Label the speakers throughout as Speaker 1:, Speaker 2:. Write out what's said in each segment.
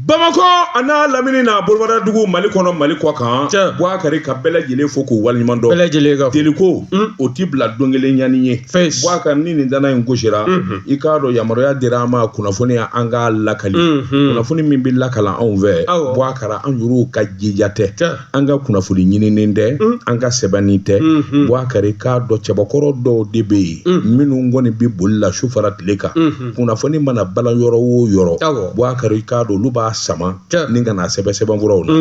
Speaker 1: bamakɔ a n'a lamini n'a bolobada dugu mali kɔnɔ mali kɔkan Cɛ. Buwakari ka bɛɛ lajɛlen fo k'u waleɲuman dɔn bɛɛ lajɛlen ka fo deliko Mm. o ti bila don kelen ɲani ye Fes. Buwakari ni nin ntanan in gosira Mhm. i k'a dɔn yamaruya dira an ma kunnafoni ya an k'a lakali Mhm. kunnafoni min bɛ lakala anw fɛ Awɔ. Buwakari an yɛrɛw ka jija tɛ Cɛ. an ka kunnafoni ɲininen tɛ an ka sɛbɛnnen tɛ Buwakari k'a dɔn cɛbakɔrɔ dɔw de bɛ yen minnu kɔni bɛ boli la su fara tile kan kunnafoni mana bala yɔrɔ o yɔrɔ Buwakari k'a dɔn olu b'a sama ni ka na sɛbɛn sɛbɛnfuraw la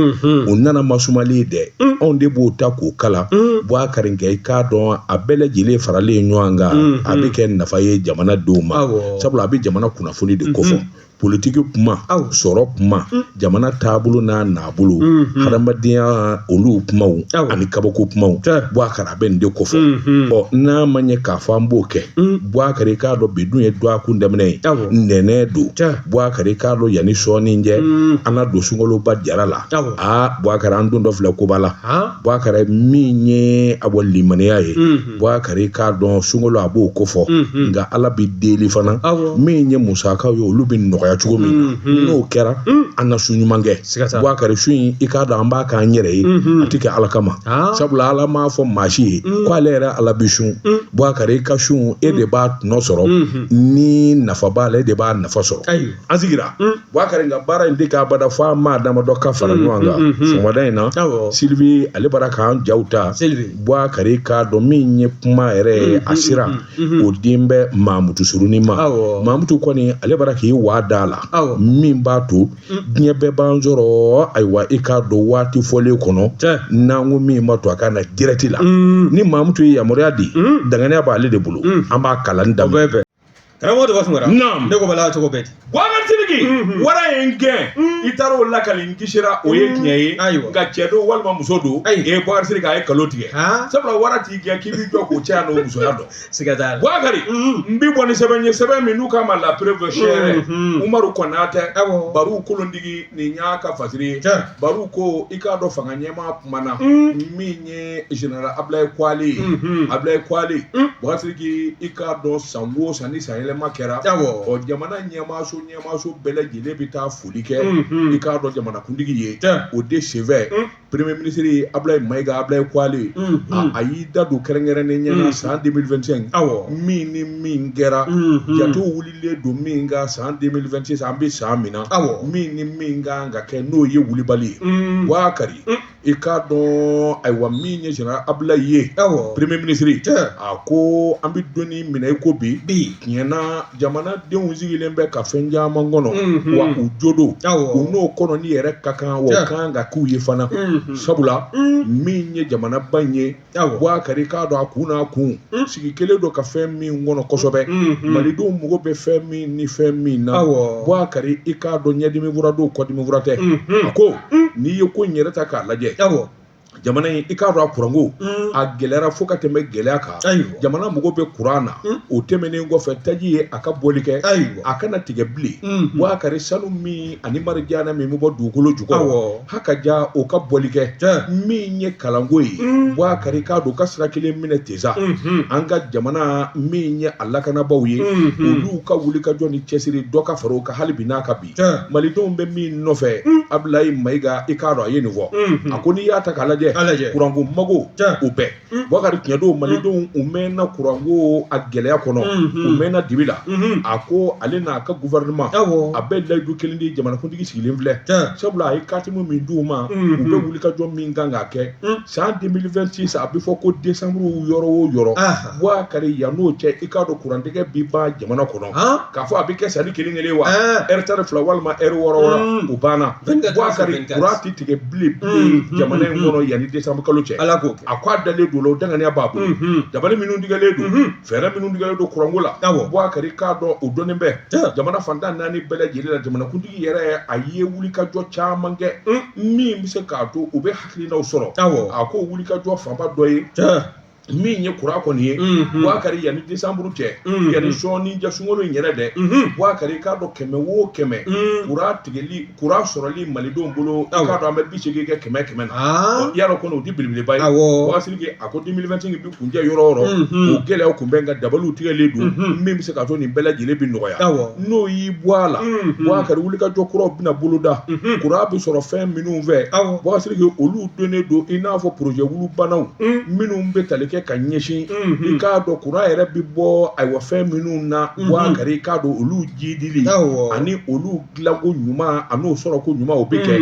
Speaker 1: u nana masumalen dɛ anw de b'o ta k'o kalan Buwakari kɛ i k'a dɔn a bɛɛ lajɛlen faralen ɲɔgɔn kan a bɛ kɛ nafa ye jamana denw ma sabula a bɛ jamana kunnafoni de kofɔ politiki kuma awɔ sɔrɔ kuma mm. jamana taabolo n'a naabolo mm, mm. hadamadenya olu kumaw ani kabako kumaw Buwakari a bɛ nin de kofɔ mm-hmm. ɔ n'a ma ɲɛ k'a fɔ an b'o kɛ Buwakari k'a dɔn bi dun ye dɔgɔkun daminɛ ye ntɛnɛn don Buwakari k'a dɔn yanni sɔɔni cɛ an na don sunkaloba jara la aa Buwakari an dontɔ filɛ koba la Buwakari min ye a bɔ limaniya ye Buwakari i k'a dɔn sunkalo a b'o kofɔ nka ala bɛ deli fana min ye musakaw ye olu bɛ nɔgɔya cogo min na n'o kɛra an ka sun ɲuman kɛ Buwakari sun in i k'a dɔn an b'a k'an yɛrɛ ye a tɛ kɛ ala kama sabula ala m'a fɔ maa si ye ko ale yɛrɛ ala bɛ sun Buwakari i ka sun e de b'a tɔnɔ sɔrɔ ni nafa b'a la e de b'a nafa sɔrɔ an sigira Buwakari nka baara in tɛ kɛ abada fo an maa damadɔ ka fara mm, ɲɔgɔn kan mm, mm, sɔgɔmada in na Sylvie ale bara k'an jaw ta Buwakari k'a dɔn min ye kuma yɛrɛ ye a sira o dilen bɛ mamutu surunin ma mamutu kɔni ale bara k'i waa da la min b'a to diɲɛ bɛɛ b'an sɔrɔ ayiwa i k'a dɔn waati fɔlen kɔnɔ n'an ko min b'a to a ka na direct la ni mamutu ye yamaruya di danganiya b'ale de bolo an b'a kalan da karamɔgɔ de
Speaker 2: b'a fɔ naam ne ko bala cogo bɛɛ ten Buwakari Siriki
Speaker 1: mhm. wara ye n gɛn mhm. i taara o lakali n kisira o ye mhm. tiɲɛ ye ayiwa nka cɛ don walima muso don e ye Buwakari a ye nkalon tigɛ sabula wara t'i gɛn k'i b'i jɔ k'o cɛya n'o musoya dɔn siga t'a la Buwakari n bɛ bɔ ni sɛbɛn ye sɛbɛn min n'u k'a ma la preuve seere umaru kɔnatɛ baru kolondigi nin y'a ka fasiri ye baru ko i k'a dɔn fanga ɲɛmaa kumana min ye général Ablaye Kwali ye unhun Ablaye Kwali Un. Buwakari Siriki i k'a dɔn san o san ni san yɛlɛma kɛra awɔ ɔ jamana ɲɛmaaso ɲɛmaaso bɛɛ lajɛlen bɛ taa foli kɛ i unhun k'a dɔn jamanakuntigi ye tɛ o de senfɛ Un. premier ministre ye Ablaye Mayiga Ablaye Kwali ye a unhun a y'i da don kɛrɛnkɛrɛnnen ɲɛ na Mm. san 2025 awɔ min ni min kɛra unhun jatew wulilen don min kan san 2026 an bɛ san min na awɔ min ni min kan ka kɛ n'o ye wulibali ye unhun Buwakari I k'a dɔn ayiwa min ye général Ablaye premier ministre a ko an bɛ don min na i ko bi bi tiɲɛna jamanadenw sigilen bɛ ka fɛn caman kɔnɔ wa u jo don u n'o kɔnɔni yɛrɛ ka kan wa a ka kan ka k'u ye fana sabula min ye jamanaba in ye Buwakari i k'a dɔn a kun n'a kun sigi kelen don ka fɛn min kɔnɔ kosɛbɛ malidenw mago bɛ fɛn min ni fɛn min na Buwakari i k'a dɔn ɲɛdimi fura don kɔdimi fura tɛ a ko n'i ye ko in yɛrɛ ta k'a lajɛ jamana in i k'a dɔn a kuranko a gɛlɛyara fo ka tɛmɛ gɛlɛya kan jamana mago bɛ kuran na o tɛmɛnen kɔfɛ taji ye a ka bɔli kɛ a kana tigɛ bilen Buwakari sanu min ani marijana min bɛ bɔ dugukolo ju ha ka ja o ka bɔli kɛ min ye kalanko ye Buwakari k'a dɔn ka sira kelen minɛ tesa an ka jamana min ye a lakanabaaw ye olu ka wulikajɔ ni cɛsiri dɔ ka fara a kan hali bi n'a ka bi malidenw bɛ min nɔfɛ Ablaye Mayiga i k'a dɔn a ye nin fɔ a ko n'i y'a ta k'a lajɛ kuranko mago o bɛɛ Buwakari tiɲɛ don Malidenw u mɛɛnna courant ko a gɛlɛya kɔnɔ, unhun, u mɛɛnna dibi la, unhun, a ko ale n'a ka gouvernement, awɔ, a bɛ layidu kelen di jamanakuntigi sigilen filɛ, tiɲɛ, sabula a ye katimu min d'u ma, unhun, u bɛ wulikajɔ min kan k'a kɛ, un, san 2026 a bɛ fɔ ko décembre yɔrɔ o yɔrɔ, anhan, Buwakari yan n'o cɛ i k'a dɔn courant tigɛ bɛ ban jamana kɔnɔ, han, k'a fɔ a bɛ kɛ san ni kelen kelen wa, ɛɛ, heure tan ni fila walima heure wɔɔrɔ wɔɔrɔ, un, o banna, 24 heures sur 24 Buwakari courant tɛ tigɛ bilen pe jamana in kɔnɔ yanni décembre kalo cɛ a ko a dalen don o la o daŋaniya b'a bolo dabali minnu tigɛlen don fɛɛrɛ minnu tigɛlen don kuranko la Buwakari k'a dɔn o dɔnnen bɛ jamana fan tan naani bɛɛ lajɛlen la jamanakuntigi yɛrɛ a ye wulikajɔ caman kɛ min bɛ se k'a to u bɛ hakilinaw sɔrɔ a ko wulikajɔ fanba dɔ ye min ye kuran kɔni ye Buwakari yanni décembre cɛ yanni sɔɔni jaa sunkalo in yɛrɛ dɛ Buwakari i k'a dɔn kɛmɛ o kɛmɛ kuran tigɛli kuran sɔrɔli malidenw bolo k'a dɔn an bɛ bi seegin kɛmɛ kɛmɛ na ya dɔn kɔni o de belebeleba ye Buwakari a ko 2025 bɛ kuncɛ yɔrɔ o yɔrɔ gɛlɛya tun bɛ nka dabaliw tigɛlen don min bɛ se k'a to nin bɛɛ lajɛlen bɛ nɔgɔya n'o y'i bɔ a la Buwakari wulikajɔ kuraw bɛna boloda kura bɛ sɔrɔ fɛn minnu fɛ olu dɔnnen don i n'a fɔ porojɛkulu bannaw minnu bɛ tali kɛ ka ɲɛsin i k'a dɔn kuran yɛrɛ bɛ bɔ ayiwa fɛn minnu na Buwakari i k'a dɔn olu jidili ani olu dilanko ɲuman ani o sɔrɔko ɲuman o bɛ kɛ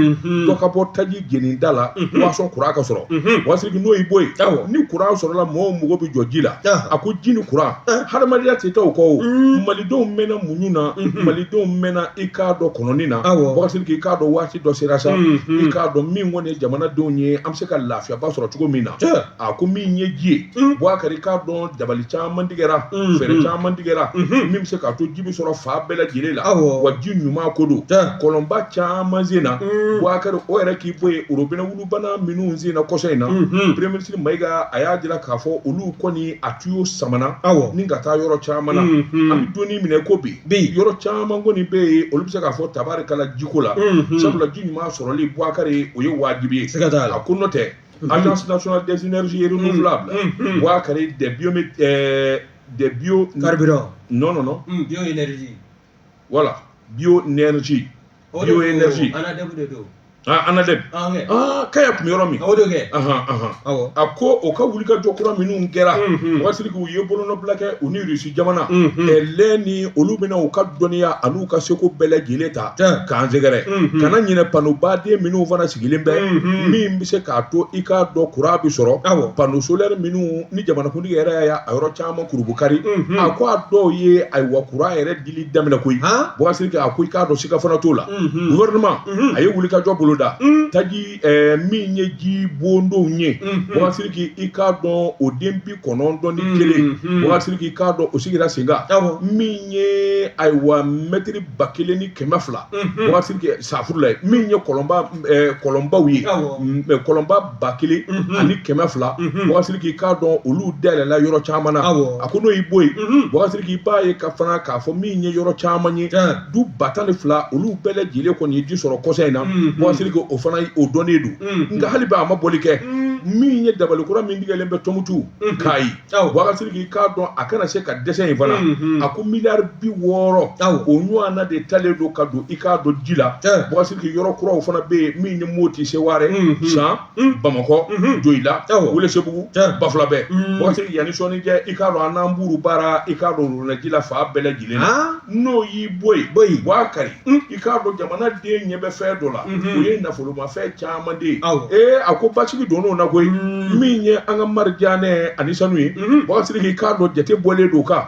Speaker 1: dɔ ka bɔ taji jeninda la waasa kuran ka sɔrɔ Buwakari n'o y'i bɔ yen ni kuran sɔrɔla mɔgɔw mago bɛ jɔ ji la a ko ji ni kuran hadamadenya tɛ taa u kɔ malidenw mɛnna muɲu na malidenw mɛnna i k'a dɔn kɔnɔni na Buwakari i k'a dɔn waati dɔ sera sa i k'a dɔn min kɔni ye jamanadenw ye an bɛ se ka lafiyaba sɔrɔ cogo min na a ko min ye ji ye buwakari i k'a dɔn dabali caman tigɛra fɛɛrɛ caman tigɛra min bɛ se k'a to ji bɛ sɔrɔ fan bɛɛ lajɛlen la wa ji ɲuman ko don kɔlɔnba caman senna buwakari o yɛrɛ k'i bɔ yen orobinɛ wulubana minnu senna kɔsa in na premier ministre mayiga a y'a jira k'a fɔ olu kɔni a tuyo samana ni ka taa yɔrɔ caman na an bɛ don min na i ko bi bɛ yen yɔrɔ caman kɔni bɛ yen olu bɛ se k'a fɔ tabarikala jiko la sabula ji ɲuman sɔrɔli buwakari o ye wajibi ye siga t'a la ko n'o tɛ agence nationale des énergies et renouvelables buwakari des bio des biocarburants non non non bioénergie
Speaker 2: voilà
Speaker 1: bioénergie O de Bio ko, énergie. ANADEB de don Ah, ANADEB. Ah, ok. Ah, kaya tun bɛ yɔrɔ min. o de kɛ Ahan, ahan. awɔ A ko o ka wulikajɔ kura minnu kɛra. Mhm. Buwakari Siriki u ye bolonɔbila kɛ u ni Russie jamana. Mhm. Ɛlɛ ni olu bɛna u ka dɔnniya an'u ka seko bɛɛ lajɛlen ta. Tiɲɛ. K'an sɛgɛrɛ. Mhm. Kana ɲinɛ pano baden minnu fana sigilen bɛ. Mhm. Min bɛ se k'a to i k'a dɔn kuran bɛ sɔrɔ. Awɔ. Pano solaire minnu ni jamanakuntigi yɛrɛ y'a ye a yɔrɔ caman kurunbonkari. Mhm. A ko a dɔw ye ayiwa kuran yɛrɛ dili daminɛ koyi Han? Buwakari Siriki a ko i k'a dɔn siga fana t'o la Mhm. gouvernement Mhm. a ye wulikajɔ boloda Mm. taji eh, min ye jibondonw ye Mhm. Buwakari Siriki i k'a dɔn o den bi kɔnɔntɔn ni Mhm. kelen Buwakari Siriki i k'a dɔn o sigira sen kan Awɔ. min ye ayiwa mɛtiri ba kelen ni kɛmɛ fila Mhm. Buwakari Siriki safuru la ye min ye kɔlɔnba eh, kɔlɔnbaw ye Awɔ. Mm, eh, kɔlɔnba ba kelen ani kɛmɛ fila buwakari siriki i k'a dɔn olu dayɛlɛla yɔrɔ caman na a ko n'o y'i bɔ yen buwakari siriki i b'a ye ka fana k'a fɔ min ye yɔrɔ caman ye du ba tan ni fila olu bɛɛ lajɛlen kɔni ye ji sɔrɔ kɔsa in na buwakari siriki o fana o dɔnnen don nka hali bi a ma bɔli kɛ min ye dabali kura min tigɛlen bɛ tumutu kayi Waati k'a dɔn a kana se ka dɛsɛ in fana a ko mi bi wɔɔrɔ o ɲɔgɔn de talen don ka don i k'a don ji la yɔrɔ kuraw fana bɛ yen min ni moti seware san bamakɔ jo i la wuli segu ba fila bɛɛ mɔti yanani sɔnni kɛ i kaa dɔn n'anuru baara i kaa donɛrɛji la fa bɛɛ lajɛlen n'o y'i bɔ bɔ' kari i k'a dɔn jamanaden ɲɛ bɛ fɛn dɔ la o ye nafolomafɛn caman de ye ee a ko basigi donn'o na koyi min ye an ka marijanɛ ani sanu ye buwakari siriki i k'a dɔn jate bɔlen don kan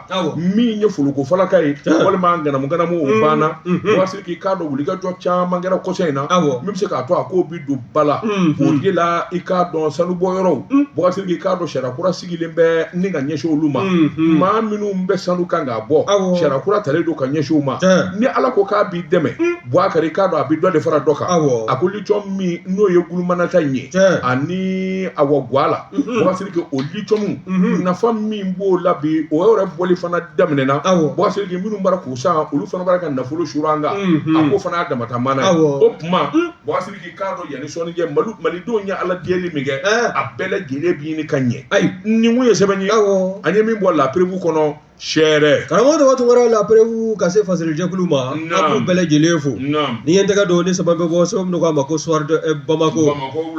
Speaker 1: min ye folokofalaka ye walima ŋanamuŋanamu o banna buwakari siriki i k'a dɔn wulikajɔ caman kɛra kɔsa in na min bɛ se k'a to a ko bɛ don ba la o de la i k'a dɔn sanubɔyɔrɔw buwakari siriki i k'a dɔn sariya kura sigilen bɛ ni ka ɲɛsin olu ma maa minnu bɛ sanu kan k'a bɔ sariya kura talen don ka ɲɛsin u ma ni ala ko k'a b'i dɛmɛ buwakari k'a dɔn a bɛ dɔ de fara dɔ kan a ko liciyɔmu min n'o ye gulamina ta in ye ani a wa ga la buwakari siriki o liciyɔmu nafa min b'o la bi o yɛrɛ bɔli fana daminɛna buwakari siriki minnu bara k'u san olu fana bara ka nafolo suuru an kan a ko fana' damata mana o tuma bɔ i k'a dɔn yanni sɔɔni cɛ malidenw ye ala deli min kɛ a bɛɛ lajɛlen bɛ ɲini ka ɲɛ ayi nin kun ye sɛbɛn ye an ye min bɔ la preuve kɔnɔ sɛɛrɛ karamɔgɔ dɔgɔ tun wɛrɛ
Speaker 2: la preuve ka se fasirijɛkulu ma an b'u bɛɛ lajɛlen fo ni ye tɛgɛ don ni saba bɛ bɔ sɛbɛn min k'a ma ko soir de bamako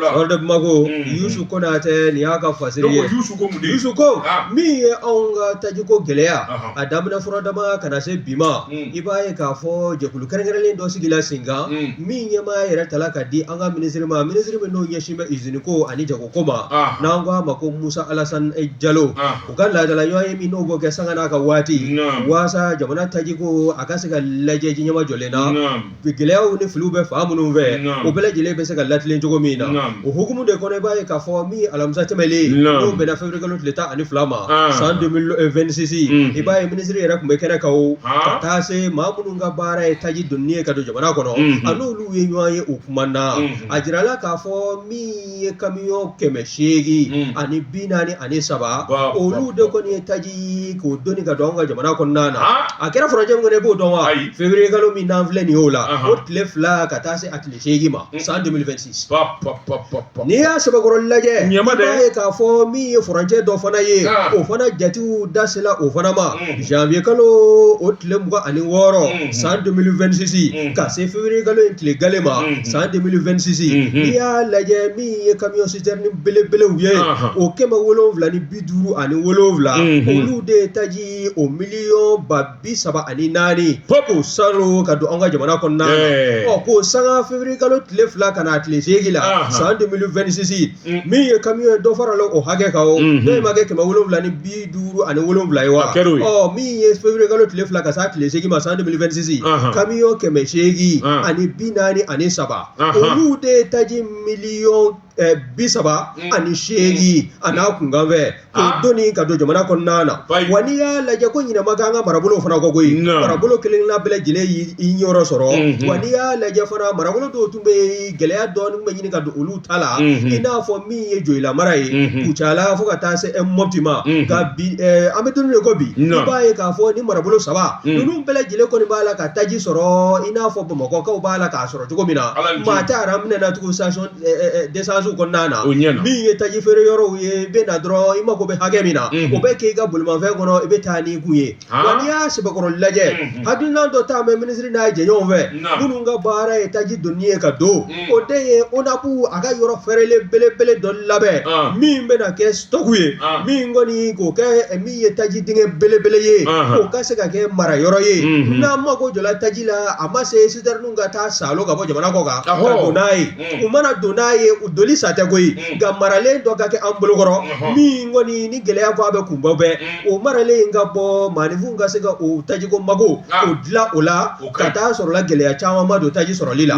Speaker 2: soir de bamako mm. yusu konatɛ nin y'a ka fasiri ye yusu ko ah. min ye anw ka tajiko gɛlɛya a daminɛ fura dama ka na se bi ma mm. i b'a ye k'a fɔ jɛkulu kɛrɛnkɛrɛnlen dɔ sigila sen kan mm. min ɲɛmaa yɛrɛ tala ka di an ka minisiri ma minisiri min n'o ɲɛsinnen bɛ izini ko ani jagoko ma n'an ko a ma ko musa alasan jalo u ka laadala ɲɔgɔnye min n'u b'o kɛ sanga n'a ka waati walasa jamana taji ko a ka se ka lajɛ ji nɛmajɔlen na gɛlɛyaw ni filiw bɛ fan minnu fɛ o bɛɛ lajɛlen bɛ se ka latilen cogo min na o hukumu de kɔnɔ i b'a ye k'a fɔ min alamisa tɛmɛnlen n'o bɛnna février kalo tile tan ani fila ma san deux mille vingt-six i b'a ye minisiri yɛrɛ tun bɛ kɛnɛ kan ka taa se maa minnu ka baara ye taji doni ye ka don jamana kɔnɔ a n'olu ye ɲɔgɔn ye u kumana a jirala k'a fɔ min ye kamiyɔn kɛmɛ seegin ani bi naani ani saba olu de kɔni ye taji k'o doni ka don an ka jamana kɔnɔna na a kɛra furancɛ min na i b'o dɔn wa février kalo min n'an filɛ nin y'o la o tile fila ka taa se a tile seegin ma san n'i y'a sɛbɛkɔrɔ lajɛ i b'a ye k'a fɔ min ye furancɛ dɔ fana ye o fana jate dasela o fana ma janvier kalo o tile mugan ani wɔɔrɔ san deux mille vingt-six ka se février kalo in tile gale ma san deux mille vingt-six n'i y'a lajɛ min ye kamiyɔn sitɛrini belebelew ye o kɛmɛ wolonwula ni bi duuru ani wolonwula olu de taji o miliyɔn ba bi saba ani naani k'o sɔrɔ ka don an ka jamana kɔnɔna ɔ k'o sanga février kalo tile fila ka na tile seegin la san deux mille vingt-six min ye kamiyɔn ye dɔ farala o hakɛ kan o de ma kɛ kɛmɛ wolonwula ni bi duuru ani wolonwula ye wa ɔ min ye février kalo tile fila ka s'a tile seegin ma san deux mille vingt-six kamiyɔn kɛmɛ seegin ani bi naani ani saba olu de ye taji miliy bi saba ani seegin a n'a kunkanfɛn k'o Ah. doni ka don jamana kɔnɔna na Bayi. wa n'i y'a lajɛ ko ɲinɛ ma k'an ka marabolo fana kɔ koyi Non. marabolo kelen kelenna bɛɛ lajɛlen y'i niyɔrɔ sɔrɔ Mhm. wa n'i y'a lajɛ fana marabolo dɔw tun bɛ yen, gɛlɛya dɔɔnin bɛ ɲini ka don olu ta la Mhm. i n'a fɔ min ye joyila mara ye Mhm. kucala fo ka taa se eh, mɔpti ma Mhm. nka bi eh, an bɛ don min na i ko bi i Non. b'a ye k'a fɔ nin marabolo saba Mm. ninnu bɛɛ lajɛlen kɔni b'a la ka taji sɔrɔ i n'a fɔ bamakɔkaw b'a la k'a sɔrɔ cogo min na Ala ni ce. maa tɛ aran minɛ na tugun sitasɔn d'essence kɔnɔna na min ye taji feere yɔrɔw ye bɛ na dɔrɔn i mako bɛ hakɛ min na o bɛ k'i ka bolimafɛn kɔnɔ i bɛ taa n'i kun ye n'i y'a sɛbɛkɔrɔ lajɛ hakilina dɔ tun bɛ minisiri n'a jɛɲɔgɔnw fɛ minnu ka baara ye taji donni ye ka don o de ye ONAP a ka yɔrɔ fɛrɛlen belebele dɔ labɛn min bɛna kɛ stock ye min kɔni k'o kɛ min ye taji dingɛ belebele ye o ka se ka kɛ mara yɔrɔ ye n'an mako jɔla taji la a ma se citerne ka taa saalo ka bɔ jamana kɔ kan n'a ye u mana don n'a ye u donni sa tɛ koyi nka maralen dɔ ka kɛ an bolokɔrɔ min kɔni ni gɛlɛya ko a bɛ kunbɛn bɛɛ o maralen ka bɔ maaninfinw ka se ka u tajiko mago u dilan o la ka taa sɔrɔla gɛlɛya caman ma don taji sɔrɔli la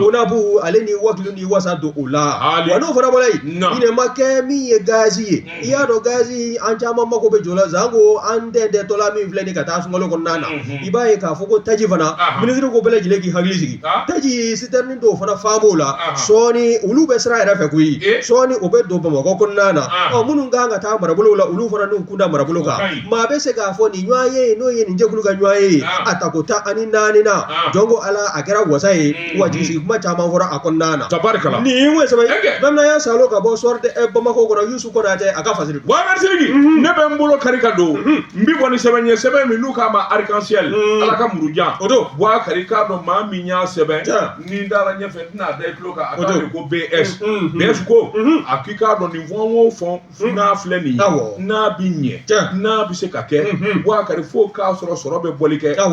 Speaker 2: ONAP ale ni wakilu ni wasa don o la wa n'o fana bɔra yen ɲinɛ ma kɛ min ye gazi ye i y'a dɔn gazi an caman mako bɛ jɔ la janko an dɛndɛtɔla min filɛ nin ka taa sunkalo kɔnɔna na i b'a ye k'a fɔ ko taji fana minisiri ko bɛɛ lajɛlen k'i hakili sigi taji citerne dɔw fana fa b'o la sɔɔni olu bɛ sira yɛrɛ fɛ koyi sɔɔni o bɛ don bamakɔ kɔnɔna na ɔ minnu kan ka taa marabolo la olu fana n'u kunda marabolo kan maa bɛ se k'a fɔ nin ɲɔgɔnye n'o ye nin jɛkulu ka ɲɔgɔnye a tako tan ani naani na jɔn ko ala a kɛra wasa ye wa jigisigi kuma caman fɔra a kɔnɔna na tabarikala nin ye mun saba bamanan y'a saalo ka bɔ Soir de bamakɔ kɔnɔ yusu konate a ka fasiri waati ne bɛ
Speaker 1: n bolo kari ka don n bi kɔni sɛbɛn ɲɛ sɛbɛn min n'u k'a ma Arc-en-ciel ala ka murujan o don bubakari k'a dɔn maa min y'a sɛbɛn ni dara ɲɛfɛ tɛna da i tulo kan a ko BS BS ko a k'i k'a dɔn nin fɔ o fɔ Hmm. n'a filɛ nin ye n'a bɛ ɲɛ n'a bɛ se ka kɛ hmm. bubakari fo k'a sɔrɔ sɔrɔ bɛ bɔli kɛ nka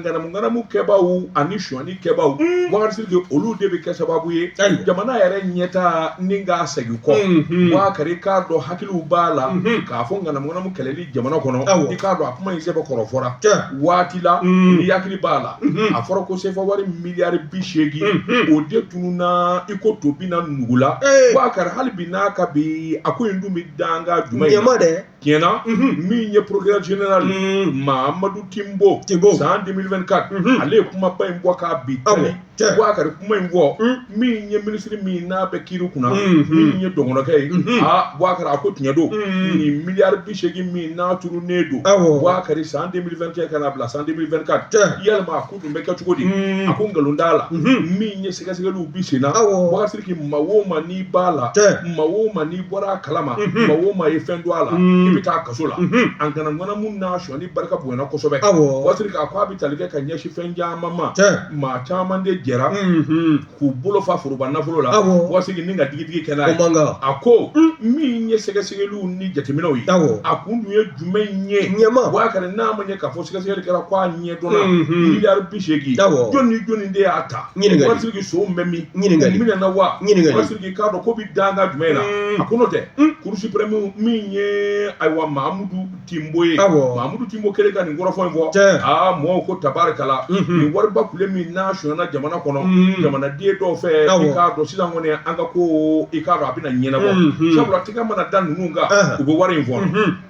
Speaker 1: ŋanamuŋanamu kɛbaaw ani sonyani kɛbaaw hmm. bubakari sidiki olu de bɛ kɛ sababu ye jamana yɛrɛ ɲɛtaa ni k'a segin kɔ bubakari k'a dɔn hakiliw b'a la k'a fɔ ŋanamuŋanamu kɛlɛli jamana kɔnɔ i k'a dɔn a kuma in sɛbɛkɔrɔ fɔra waati la mm. n'i hakili b'a la mm-hmm. a fɔra ko sefa wari miliyari bi seegin mm-hmm. o de tununna i ko to binna nugu la bubakari hali bi n'a ka bi a ko in dun bɛ danga jumɛn in na tiɲɛna mm-hmm. min ye procureur général mm. mahamadu timbo san 2024 ale ye kumaba in bɔ k'a bi tali Cɛ. bubakari kuma in fɔ min ye minisiri min n'a bɛ kiiri kunna Mhm. min ye dɔgɔnkɛ ye Mhm. aa bubakari a ko tiɲɛ don Mhm. nin miliyari bi seegin min n'a tununnen don Awɔ. bubakari san 2021 ka na bila san 2024 Cɛ. yalima a ko tun bɛ kɛ cogo di Mhm. a ko nkalon t'a la Mhm. min ye sɛgɛsɛgɛliw bi sen na Awɔ. bubakari sidiki maa o maa n'i b'a la Cɛ. maa o maa n'i bɔra a kalama Mhm. maa o maa ye fɛn don a la Mhm. i bɛ taa kaso la Mhm. an kana ŋanamu n'a sɔnni barika bonyana kosɛbɛ awɔ buwakari sidiki a ko a bɛ tali kɛ ka ɲɛsin fɛn caman ma cɛ maa caman de jɛra mhm k'u bolo fa foroba nafolo la Awɔ. buwakari sidiki ni ka digidigi kɛ n'a o ye man kan a ko min ye sɛgɛsɛgɛliw ni jateminɛw ye awɔ a kun dun ye jumɛn ye ɲɛma buwakari n'a ma ɲɛ k'a fɔ sɛgɛsɛgɛli kɛra ko a ɲɛ dɔnna Mhm. miliyari bi seegin Awɔ. jɔni ni jɔni de y'a ta Ɲininkali. buwakari sidiki sonw bɛ min Ɲininkali. u minɛna wa Ɲininkali. buwakari sidiki k'a dɔn ko bi danga jumɛn na Mm. a ko n'o tɛ Mm. cour suprême min ye ayiwa mahamudu tinbo ye mamudu tinbo kɛlen ka nin kɔrɔfɔ in fɔ aa mɔgɔw ko tabarikala nin wariba kule min n'a sonyana jamana kɔnɔ jamanaden dɔw fɛ i k'a dɔn sisan kɔni an ka ko i k'a dɔn a bɛna ɲɛnabɔ sabula tigɛ mana da ninnu kan u bɛ wari in fɔ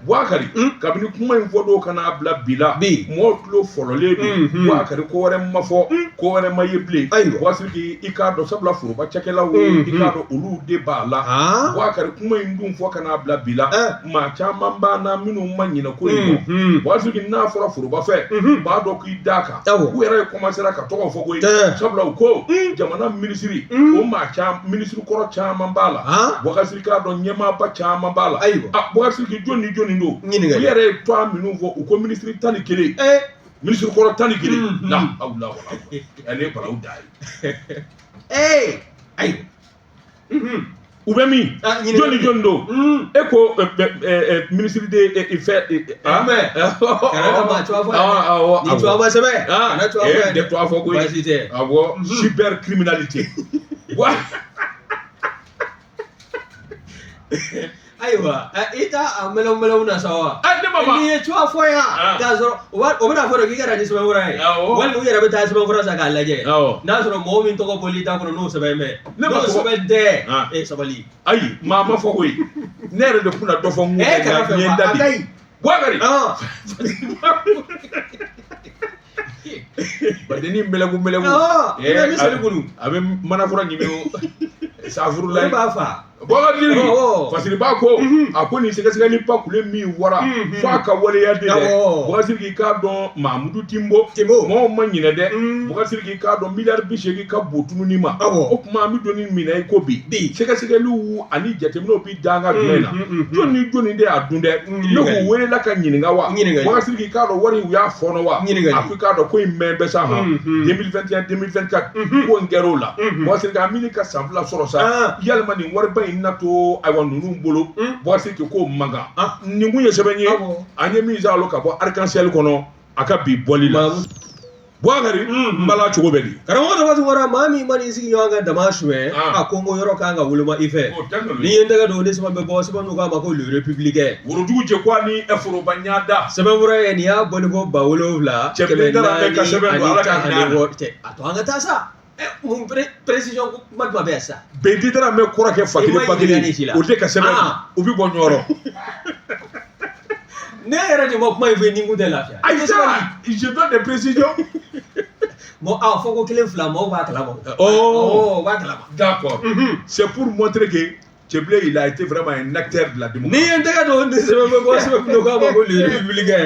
Speaker 1: buwakari kabini kuma in fɔ don ka n'a bila bi la mɔgɔw tulo fɔlɔlen don buwakari ko wɛrɛ ma fɔ ko wɛrɛ ma ye bilen buwakari sidiki i k'a dɔn sabula foroba cakɛlaw i k'a dɔn olu de b'a la buwakari kuma in dun fɔ ka n'a bila bi la maa caman b'an na minnu ma ɲinɛ ko in kɔ buwakari sidiki n'a fɔra foroba fɛ u b'a dɔn k'i da kan Awɔ. u yɛrɛ kɔmasera ka tɔgɔ fɔ koyi Ɛɛ. sabula u ko jamana minisiri o maa caman minisiri kɔrɔ caman b'a la Han? buwakari sidiki k'a dɔn ɲɛmaaba caman b'a la Ayiwa. a buwakari sidiki jɔni ni jɔni don Ɲininkali. u yɛrɛ ye tɔgɔ minnu fɔ u ko minisiri tan ni kelen ee minisiri kɔrɔ tan ni kelen Mhm. la hawla wala ale ye balawu dan ye ee ayi Mm-hmm. u bɛ min ah, jɔni ni jɔni don mm. e ko eh, eh, eh, minisiri de fɛ
Speaker 2: ah? de tuwa fɔ ko
Speaker 1: awɔ mm-hmm. cyber criminalité wa
Speaker 2: ayiwa i t'a a mɛlɛw mɛlɛw na sa wa ne ma n'i ye tuwa fɔ yan k'a sɔrɔ o bɛna fɔ de k'i ka na ni sɛbɛn fura ye walima u yɛrɛ bɛ taa sɛbɛn fura san k'a lajɛ n'a sɔrɔ mɔgɔ min tɔgɔ bɔli t'a kɔnɔ n'o sɛbɛn bɛ ne ma sɛbɛn tɛ e sabali ayi maa ma
Speaker 1: fɔ koyi ne yɛrɛ de kun na dɔ fɔ n ko n ye n da de buwakari badennin mɛlɛku mɛlɛku bɛ seli kulu a bɛ manafura ɲimi o safuru la b'a fa
Speaker 2: buwakari
Speaker 1: fasiri b'a ko a ko nin sɛgɛsɛgɛli ba kule min wara fo a ka waleya de dɛ buwakari sidiki k'a dɔn mamudu tinbo mɔgɔw ma ɲinɛ dɛ buwakari sidiki k'a dɔn miliyari bi seegin ka bon tununi ma o tuma an bɛ don min na i ko bi sɛgɛsɛgɛliw ani jateminɛw bi danga jumɛn na jɔn ni jɔn de y'a dun dɛ ne k'u welela ka ɲininka wa buwakari sidiki k'a dɔn wari u y'a fɔɔnɔ wa ɲininka a ko k'a dɔn ko in mɛn bɛ sa ma deux mille vingt et un deux mille vingt-quatre ko in kɛra o la buwakari a bɛ ɲini ka san fila sɔrɔ sa yalima nin wariba in na to ayiwa ninnu bolo buwakari sidiki k'o man kan nin kun ye sɛbɛn ye an ye min kalan ka bɔ arc-en-ciel kɔnɔ a ka bi bɔli la Bouakari n bala cogo bɛ di karamɔgɔ Daramani Tunkara
Speaker 2: maa min mana i sigi ɲɔgɔn kan dama suɲɛ a ko n ko yɔrɔ kan ka woloma i fɛ n'i ye n tɛgɛ don ni sɛbɛn bɛ bɔ sɛbɛn min k'a ma ko le républicain worodugu jɛ ko
Speaker 1: ni foroba ɲada sɛbɛnfura ye nin
Speaker 2: y'a bɔli ko ba wolonwula kɛmɛ naani ani tan ani wɔɔrɔ a to an ka taa sa mun précision kuma jumɛn bɛ yan sisan bɛn Cɛbilen Darame n
Speaker 1: kɔrɔkɛ fa kelen ba kelen o de ka sɛbɛn u bɛ bɔ ɲɔgɔn
Speaker 2: ne yɛrɛ de ma kuma in fɔ ni n kun tɛ lafiya ayi sa
Speaker 1: je donne des
Speaker 2: précisions bon ah fɔ ko kelen fila mɔgɔw b'a kalama ɔ b'a kalama d'accord
Speaker 1: c'est pour montrer que Cɛbilen il a été vraiment un acteur de la démocratie ni ye n tɛgɛ don ni
Speaker 2: sɛbɛn bɛ bɔ sɛbɛn min k'a ma ko le républicain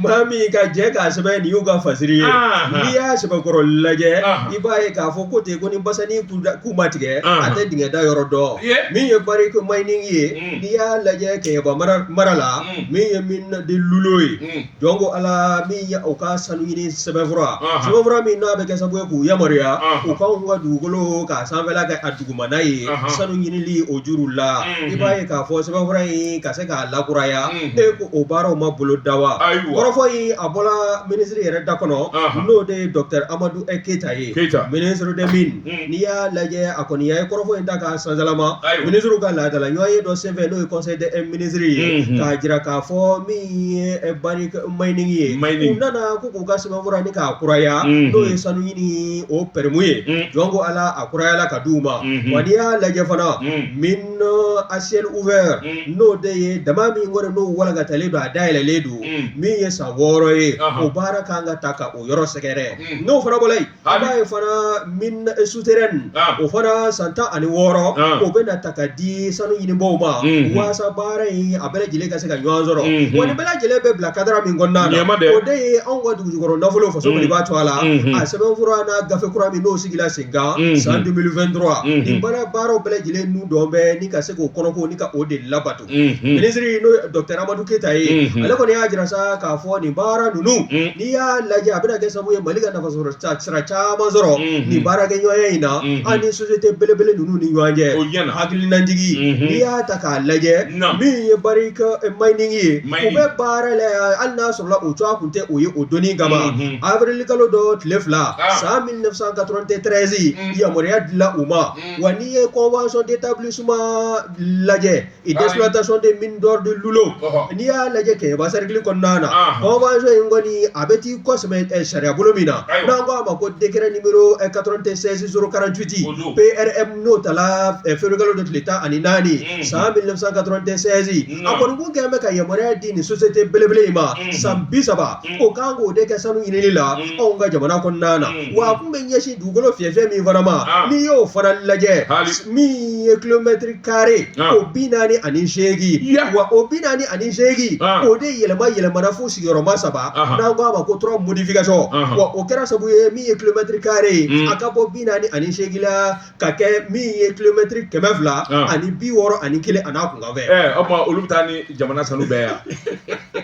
Speaker 2: maa min ka jɛ k'a sɛbɛn nin y'u ka fasiri ye n'i y'a sɛbɛnkɔrɔ lajɛ i b'a ye k'a fɔ ko ten ko ni basanin ku ma tigɛ a tɛ dingɛ da yɔrɔ dɔn min ye Barrick mining ye n'i y'a lajɛ kɛɲɛba mara la min ye mine de Lulo ye jɔn ko ala min ye o ka sanu ɲini sɛbɛnfura Aha. sɛbɛnfura min n'a bɛ kɛ sababu ye k'u yamaruya Aha. u k'anw ka dugukolo k'a sanfɛla kɛ a dugumana ye Aha. sanu ɲinili o juru la Mhm. i b'a ye k'a fɔ sɛbɛnfura in ka se k'a lakuraya Mhm. e ko o baaraw ma bolo da wa Ayiwa. kɔrɔfɔ in a bɔla minisiri yɛrɛ da kɔnɔ Aha. n'o de ye dɔkitɛri amadu ɛ keyita ye Keyita. minisiri des mines n'i y'a lajɛ a kɔni ye kɔrɔfɔ in ta k'a sansalama minisiriw ka laadala ɲɔgɔnye dɔ senfɛ n'o ye conseil des ministres ye k'a jira k'a fɔ min ye mining ye u nana ko k'u ka sɛbɛnfura nin k'a kuraya n'o ye sanu ɲini o pɛrɛmu ye jɔn ko Ala a kurayala ka d'u ma wa n'i y'a lajɛ fana mine à ciel ouvert n'o de ye daman min kɔni n'o walankatalen don a dayɛlɛlen don min ye san wɔɔrɔ ye o baara ka kan ka taa ka o yɔrɔ sɛgɛrɛ n'o fana bɔla yen B'a ye fana mine souterraine o fana san tan ani wɔɔrɔ o bɛna ta ka di sanu ɲinibaw ma walasa baara in a bɛɛ lajɛlen ka se ka ɲɔgɔn sɔrɔ wa nin bɛɛ lajɛlen bɛ bila kadara min kɔnɔna na o de ye anw ka dugujukɔrɔ nafolo faso mali b'a to a la a sɛbɛnfura n'a gafe kura min n'o sigila sen kan san deux mille vingt-trois baara baaraw bɛɛ lajɛlen dɔw bɛ ka se k'o kɔnɔko ni ka o de labato minisiri n'o dɔkitɛri amadu keyita ye ale kɔni y'a jira sa k'a fɔ nin baara ninnu n'i y'a lajɛ a bɛna kɛ sababu ye mali ka nafa sɔrɔ sira caman sɔrɔ nin baarakɛɲɔgɔnya in na an ni sosite belebele ninnu ni ɲɔgɔn cɛ o hakililajigin n'i y'a ta k'a lajɛ min ye Barrick mining ye u bɛ baara la hali n'a sɔrɔ u cogoya tun tɛ o ye o doni kama abirilikalo dɔ tile fila san mille neuf cent quatre-vingt-treize yamaruya dila u ma wa n'i ye convention d'établissement lajɛ et d'exploitation des mines d'or de Lulo n'i y'a lajɛ Kɛɲɛba cercle kɔnɔna na convention in kɔni a bɛ t'i kɔsɛmɛ sariyabolo min na n'an ko a ma ko décret numéro 96 048 PRM n'o tala février kalo de tile tan ani naani san 1996 a kɔni kun kɛlen bɛ ka yamaruya di nin société belebele in ma san bi saba o kan k'o de kɛ sanu ɲinini la anw ka jamana kɔnɔna na. wa a kun bɛ ɲɛsin dugukolo fiyɛfiyɛ min fana ma n'i y'o fana lajɛ min ye kilomɛtiri kare o bi naani ani seegin wa o bi naani ani seegin o de yɛlɛma yɛlɛmana fo sigiyɔrɔma saba n'an ko a ma ko trois modifications wa o kɛra sabu ye min ye kilomɛtiri kare a ka bɔ bi naani ani seegin la ka kɛ min ye kilomɛtiri kɛmɛ fila ani bi wɔɔrɔ ani kelen an'a kunkanfɛn o tuma olu bɛ taa ni
Speaker 1: jamana sanu bɛɛ yan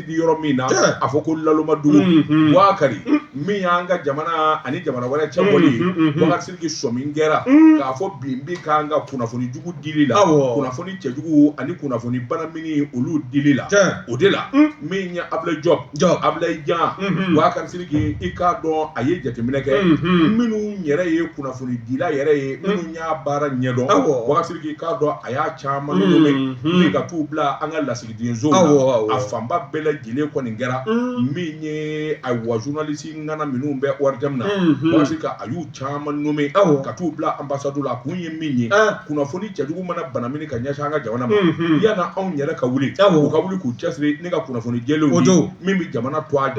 Speaker 1: di yɔrɔ min na Tiɲɛ. a fɔ ko laloma dugu Mm, mm. Boubacar min y'an ka jamana ani jamana wɛrɛ cɛ bɔli ye Mm, mm, mm, mm. Boubacar Sidiki sɔmi kɛra Mm. k'a fɔ bin bi k'an kan kunnafoni jugu dili la Awɔ. kunnafoni cɛjugu ani kunnafoni banamini olu dili la Tiɲɛ. o de la Mm. min ye Ablaye Diop Diop. Ablaye Jan Mhm. Boubacar Sidiki i k'a dɔn a ye jateminɛ kɛ Mhm. minnu yɛrɛ ye kunnafoni dila yɛrɛ ye minnu y'a baara ɲɛdɔn Awɔ. Boubacar Sidiki i k'a dɔn a y'a caman Mhm. nommer ni ka t'u bila an ka lasigi densow la a fanba bɛɛ lajɛlen kɔni kɛra min ye ayiwa journaliste ŋana minnu bɛ ORTM na Boubacar Sidiki a y'u caman nommer ka t'u bila ambassade la a kun ye min ye kunnafoni cɛjugu mana banamini ka ɲɛsin an ka jamana ma yan na anw yɛrɛ ka wuli u ka wuli k'u cɛsiri ni ka kunnafoni jɛlenw di min bɛ jamana to a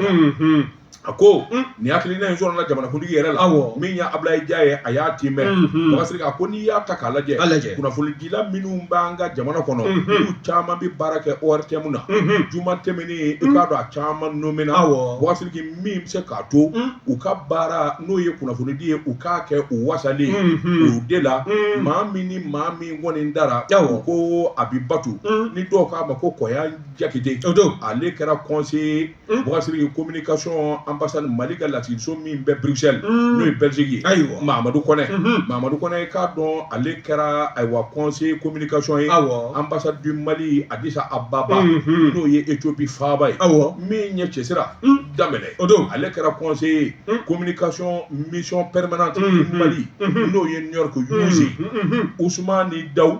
Speaker 1: A ko nin hakilina in sɔrɔla jamanakuntigi yɛrɛ la min ye Ablaye Jan ye a y'a tiimɛ Boubacar a ko n'i y'a ta k'a lajɛ kunnafonidila minnu b'an ka jamana kɔnɔ olu caman bɛ baara kɛ ORTM na juma tɛmɛnen i k'a dɔn a caman nomina Boubacar Sidiki min bɛ se k'a to u ka baara n'o ye kunnafonidi ye u k'a kɛ u wasalen o de la maa min ni maa min kɔni dara ko Abibatu ni dɔw k'a ma ko Kɔyan Jakite ale kɛra conseiller Bɔsiri ye ko mini kasɔn an basa mali ka lasiso min bɛɛ bilisisili n'o ye bɛsegin ayiwa mamadu kɔnɛ mamadu kɔnɛ k'a dɔn ale kɛra ayiwa kɔnse ko mini kasɔn ye aw an basa di mali a bisa a bababa n'o ye e cobi faba ye aw min ɲɛ cɛsira daminɛ o don ale kɛra kɔnse ye ko mini kasɔn miɔn pɛmana mali n'o ye ɲɔri kosi us ni da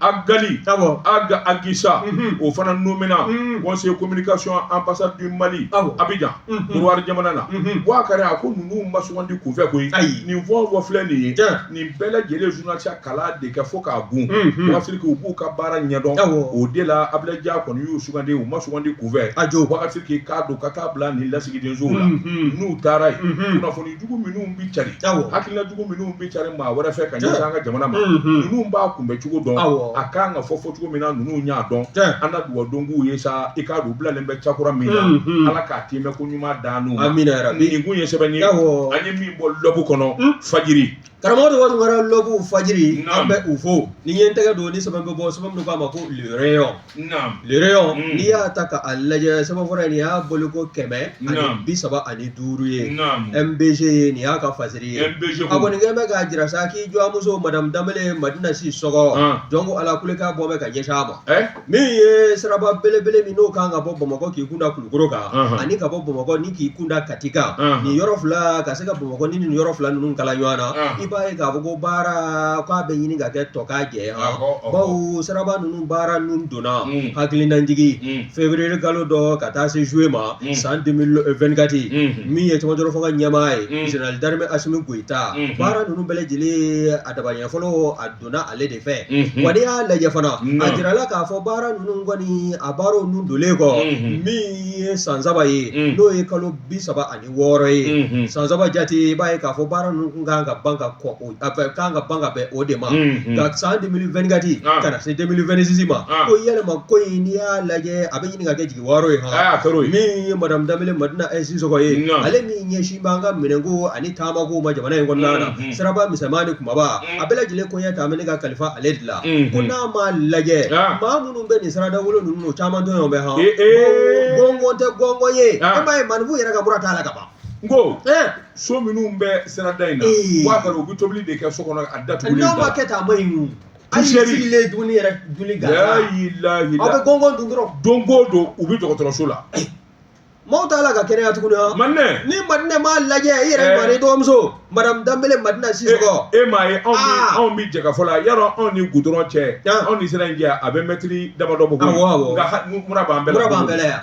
Speaker 1: Agali Ag Agisa o fana nomina conseiller communication ambassade du Mali Abidjan Côte d'Ivoire jamana na Boubacar a ko ninnu ma sugandi kunfɛ koyi ayi nin fɛn o fɛn filɛ nin ye nin bɛɛ lajɛlen journalisteya kalan de kɛ fo k'a bon Boubacar Sidiki u b'u ka baara ɲɛdɔn o de la Ablaye Jan kɔni y'u sugandi u ma sugandi kunfɛ a jo Boubacar Sidiki k'a dɔn ka taa bila nin lasigidensow la n'u taara yen kunnafoni jugu minnu bɛ cari hakilina jugu minnu bɛ cari maa wɛrɛ fɛ ka ɲɛsin an ka jamana ma ninnu b'a kunbɛn cogo dɔn a ka kan ka fɔ fɔ cogo min na ninnu y'a dɔn an ka dugawu don k'u ye sa i k'a dɔn u bilalen bɛ cakura min na ala k'a tiimɛ ko ɲuman dan n'u ma min yɛrɛ nin kun ye sɛbɛn ye an ye min bɔ lɔbu kɔnɔ fajiri
Speaker 2: karamɔgɔ de kɔni wɛrɛ lɔbu fajiri Naam. an bɛ u fo ni n ye n tɛgɛ don ni sɛbɛn bɛ bɔ sɛbɛn min k'a ma ko le rayon Naam. le rayon Mm. n'i y'a ta k'a lajɛ sɛbɛn fɔlɔ in nin y'a bɔli ko kɛmɛ ani Naam. bi saba ani duuru ye Naam. mbg ye nin y'a ka fasiri ye MBG a ko. nin kɛ bɛ k'a jira sa k'i dɔgɔmuso madamu danbele madina sisɔkɔ Ah. jɔnko ala kulekan bɔ bɛ ka ɲɛsin a ma Eh? min ye siraba belebele min n'o kan ka bɔ bamakɔ k'i kunda kulukɔrɔ kan ani ka bɔ bamakɔ ni k'i kunda kati kan nin yɔrɔ fila ka se ka bamakɔ ni yɔrɔ fila ninnu kala ɲɔgɔn na i b'a ye k'a fɔ ko baara k'a bɛ ɲini ka kɛ tɔkajɛ bawo siraba ninnu baara ninnu donna hakilinajigi feburuye kalo dɔ ka taa se zuye ma san deux mille vingt-quatre min ye cɛmancɛrɔ fanga ɲɛmaa ye général d'armée asimi goyita baara ninnu bɛɛ lajɛlen a daba fɔlɔ donna ale de fɛ wa n'i y'a lajɛ fana a jirala k'a fɔ baara ninnu kɔni a baara ninnu donlen kɔ min ye san saba ye n'o ye kalo bi saba ani wɔɔrɔ ye san saba jate i b'a ye k'a fɔ baara ninnu kun kan ka ban ka kɔ o kan ka ban ka bɛn o de ma nka san deux mille vingt-quatre ka na se deux mille vingt-six ma ko yɛlɛma ko in n'i y'a lajɛ a bɛ ɲini ka kɛ jigi waaro ye aa kɛra min ye madamu danbele madina sisɔkɔ ye ale min ɲɛsin b'an ka minɛnko ani taamako ma jamana in kɔnɔna na siraba misɛnman ni kumaba a bɛɛ lajɛlen koɲɛ ta ne ka kalifa ale de la ko n'a ma lajɛ maa minnu bɛ nin sira dawolo ninnu caman tɔɔrɔ bɛ hɔn gɔngɔn tɛ gɔngɔn ye e m'a ye maku yɛrɛ ka mura t'a la ka ban n ko so minnu bɛ sirada in na u b'a u bɛ tobili de kɛ so kɔnɔ a datugulen n'aw ma kɛ tan a ma hali sigilen dumuni yɛrɛ dumuni gansan aw bɛ gɔngɔn dun dɔrɔn don o don u bɛ dɔgɔtɔrɔso la maaw t'a la ka kɛnɛya tuguni wa madina ni madina m'a lajɛ i yɛrɛ ɲɔgɔnna i dɔgɔmuso madamu danbele madina sisɔkɔ e m'a ye anw ni anw bɛ jɛkafɔ la yarɔ anw ni gudɔrɔn cɛ anw ni sira in cɛ a bɛ mɛtiri damadɔ bɔ awɔ awɔ nka mura b'an bɛɛ la mura b'an bɛɛ la yan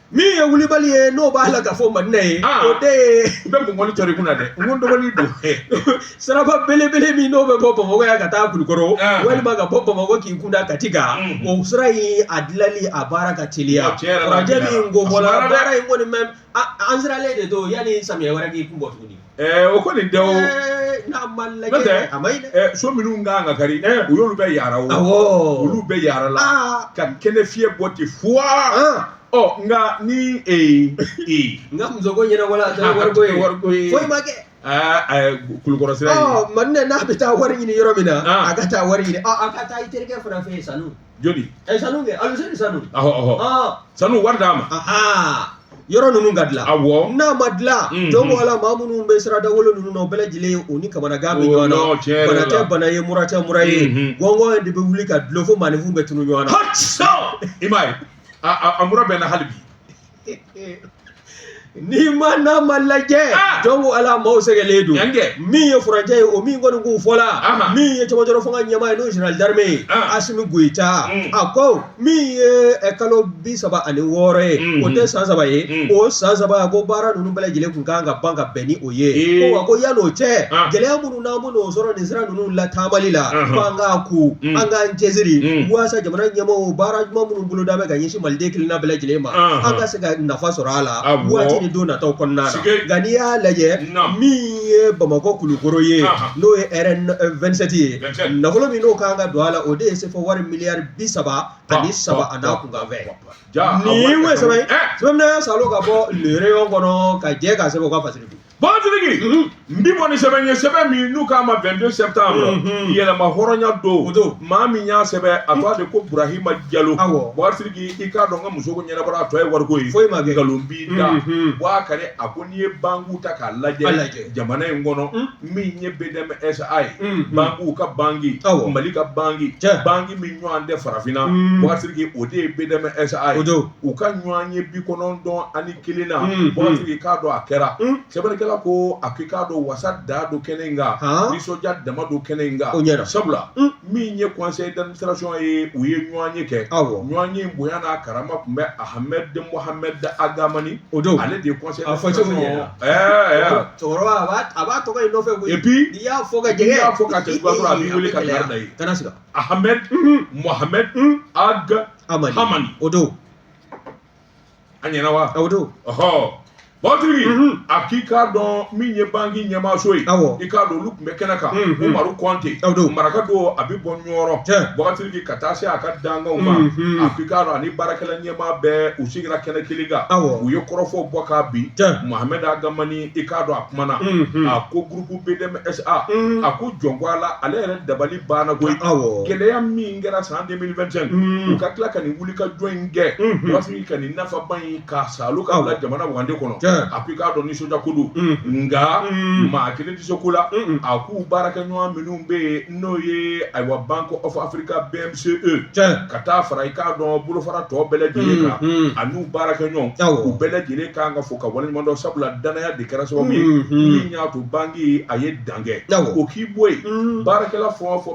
Speaker 2: min ye wulibali ye n'o b'a la ka fɔ madina ye ah. o de ye i bɛ mɔgɔni tɔri kunna dɛ n ko dɔgɔnin don siraba belebele min n'o bɛ bɔ bamakɔ yan ka taa kulukɔrɔ ah. walima ka bɔ bamakɔ k'i kunda kati kan mm. o sira in a dilali a baara ka teliya farajɛ min ko bɔla baara in kɔni mɛ an siralen de don yanni samiya wɛrɛ k'i kun bɔ tuguni o kɔni tɛ o n'a ma lajɛ a ma ɲi dɛ so minnu ka kan ka kari u y'olu bɛɛ yaara o olu bɛɛ yaarala ka kɛnɛ fiyɛ bɔ ten fu ɔ nka ni n ka muso ko ɲɛna wala a tɛ wariko ye foyi ma kɛ kulukɔrɔ sira madina n'a bɛ taa wari ɲini yɔrɔ min na a ka taa wari ɲini ka taa i terikɛ fana fɛ yen sa jɔni a ye sanu kɛ Aluseni Sanu ɔhɔ ɔhɔ aa sanu wari d'a ma aha yɔrɔ ninnu ka dilan awɔ n'a ma dilan Mhm. jɔn ko ala maa minnu bɛ siradawolo ninnu na o bɛɛ lajɛlen o ni kamanagan bɛ O ɲɔgɔn na, tiɲɛ yɛrɛ la. bana tɛ bana ye mura tɛ mura ye Mhm. gɔngɔn de bɛ wuli ka dulon fo maaninfinw bɛ tunu ɲɔgɔn na hɔ i m'a ye a a- a mura bɛ n na hali bi N'i ma n'a ma lajɛ jɔn ko ala maaw sɛgɛnnen don min ye furancɛ ye o min kɔni k'u fɔla min ye cɛmancɛrɔ fanga ɲɛmaa ye n'o général d'armée ye Asimi Goyita a ko min ye kalo bi saba ani wɔɔrɔ ye o tɛ san saba ye o san saba a ko baara ninnu bɛɛ lajɛlen tun kan ka ban ka bɛn ni o ye ko yan n'o cɛ gɛlɛya minnu n'an bɛn'o sɔrɔ nin sira ninnu lataamali la ko an k'a kun an k'an cɛsiri walasa jamana ɲɛmaaw baara ɲuman minnu boloda bɛ ka ɲɛsin maliden kelenna bɛɛ lajɛlen ma, anhan, an ka se ka nafa sɔrɔ a la, awɔ, waati ni don nataw kɔnɔna na, sike, nka n'i y'a lajɛ, naamu, min ye Bamakɔ kulukɔrɔ ye, anhan, n'o ye RN 27 ye, 27, nafolo min n'o ka kan ka don a la, o de ye sefa wari miliyari bi saba ani saba a n'a kunkanfɛn, jaa, nin ye sɛbɛn ye, sɛbɛn minɛn salo ka bɔ le rayon kɔnɔ ka jɛ k'a sɛbɛn u ka fasiri kun. Bɔntigi n bɛ bɔ ni sɛbɛn ye sɛbɛn min n'u k'a ma 22 septembre yɛrɛmahɔrɔnya don don maa min y'a sɛbɛn a tɔgɔ de ko burahima jalo bɔntigi i k'a dɔn n ka musoko ɲɛnabɔra a tɔ ye wariko ye foyi ma kɛ nkalon b'i da wa kari a ko n'i ye banki ta k'a lajɛ jamana in kɔnɔ min ye bdmsa ye banki ka banki mali ka banki banki min ɲɔgɔn tɛ farafinna bɔntigi o de ye bdmsa ye u ka ɲɔgɔnye bi kɔnɔntɔn ani kelennan bɔntigi i k'a dɔn a kɛra sɛbɛnnikɛla
Speaker 1: ko a ko i k'a dɔn wasa dan don kɛnɛ in kan nisɔndiya dama don kɛnɛ in kan sabula min ye conseil d'administration ye u ye ɲɔgɔnye kɛ ɲɔgɔnye bonya n'a karama tun bɛ Ahmed Mohamed Ag Hamani o don ale de ye conseil d'administration
Speaker 2: cɛkɔrɔba a b'a tɔgɔ nɔfɛ et puis n'i y'a fɔ ka jɛ
Speaker 1: n'i
Speaker 2: y'a fɔ ka jɛ a
Speaker 1: b'i weele ka da ye Ahmed Mohamed Ag Hamani. Hamani. O don. A ɲɛna wa. O don.
Speaker 2: Ɔhɔ.
Speaker 1: Bɔntigi mhm. a k'i k'a dɔn min ye banki ɲɛmaaso ye i k'a dɔn olu tun bɛ kɛnɛ kan mhm. umaru kɔnte maraka don a bɛ bɔ Ɲɔrɔ bɔntigi ka taa se a ka dankanw ma mhm. a k'i k'a dɔn ani baarakɛla ɲɛmaa bɛɛ u sigira kɛnɛ kelen kan u ye kɔrɔfɔw bɔ kabi Mohamed Ag Hamani i k'a dɔn a kumana a ko gurupu bdmsa a ko jɔn ko ala ale yɛrɛ dabali banna koyi gɛlɛya min min kɛra san 2025 mm. u ka tila ka nin wulikajɔ in kɛ mm-hmm. bɔntigi ka nin nafaba in ka salo ka bila jamana wagande kɔnɔ a ko i k'a dɔn nisɔndiya ko don mm. nka mm. maa kelen tɛ se ko la a k'u baarakɛɲɔgɔn minnu bɛ yen n'o ye ayiwa bank of africa bmce ka taa fara i k'a dɔn bolofara tɔ bɛɛ lajɛlen kan mm-hmm. a n'u baarakɛɲɔgɔn u bɛɛ lajɛlen kan ka fo ka waleɲuman dɔn sabula danaya de kɛra sababu ye mm-hmm. min y'a to banki a ye dan kɛ o k'i bɔ yen baarakɛla fɛn o fɛn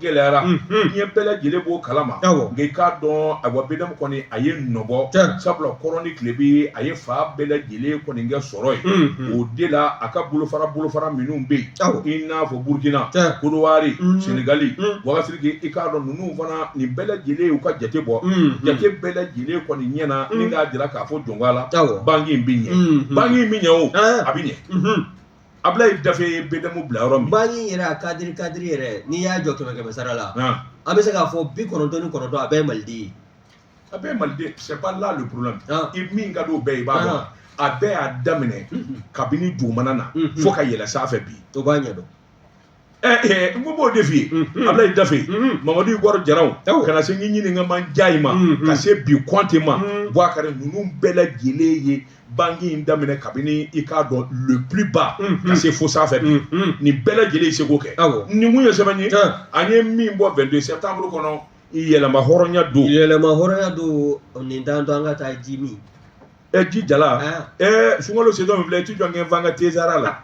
Speaker 1: gɛlɛyara diɲɛ bɛɛ lajɛlen b'o kalama nka i k'a dɔn ayiwa BDM kɔni a ye nɔbɔ sabula kɔrɔn ni tilebin a ye fan bɛɛ lajɛlen kɔni kɛ sɔrɔ ye o de la a ka bolofara bolofara minnu bɛ yen i n'a fɔ burukina kodiwari sɛnɛgali buwakari sidiki i k'a dɔn ninnu fana nin bɛɛ lajɛlen y'u ka jate bɔ jate bɛɛ lajɛlen kɔni ɲɛna min k'a jira k'a fɔ jɔn la banki in bɛ ɲɛ banki in bɛ ɲɛ o a bɛ ɲɛ abulayi dafe ye BDM bila yɔrɔ min banki yɛrɛ a
Speaker 2: kadiri kadiri yɛrɛ n'i y'a jɔ kɛmɛ kɛmɛ sara la an bɛ se k'a fɔ bi kɔnɔntɔn ni kɔnɔntɔn a bɛɛ ye maliden ye a bɛɛ
Speaker 1: maliden c'est pas là le problème i min ka don bɛɛ i b'a a bɛɛ y'a daminɛ kabini dugumana na fo ka yɛlɛ sanfɛ fɛ bi to b'a ɲɛ dɔn ɛɛ n ko b'o de f'i ye Mhm. abulayi dafe Mhm. mamadu igɔri jaraw Awɔ. ka na se ɲinini ka man njayi ma Mhm. ka se bi kɔnte ma Mhm. buwakari ninnu bɛɛ lajɛlen ye banki in daminɛ kabini i k'a dɔn le plus bas Mhm. ka se fo sanfɛ bi Mhm. nin bɛɛ lajɛlen ye seko kɛ Awɔ. nin tun ye sɛbɛn ye Tiɲɛ. an ye min bɔ 22 septembre kɔnɔ yɛrɛmahɔrɔnya don yɛrɛmahɔrɔnya don nin t'an to an ka
Speaker 2: taa ji min ɛ ji
Speaker 1: jala ɛ sunkalo sezɔn min filɛ i ti jɔ kɛ fanga tezara la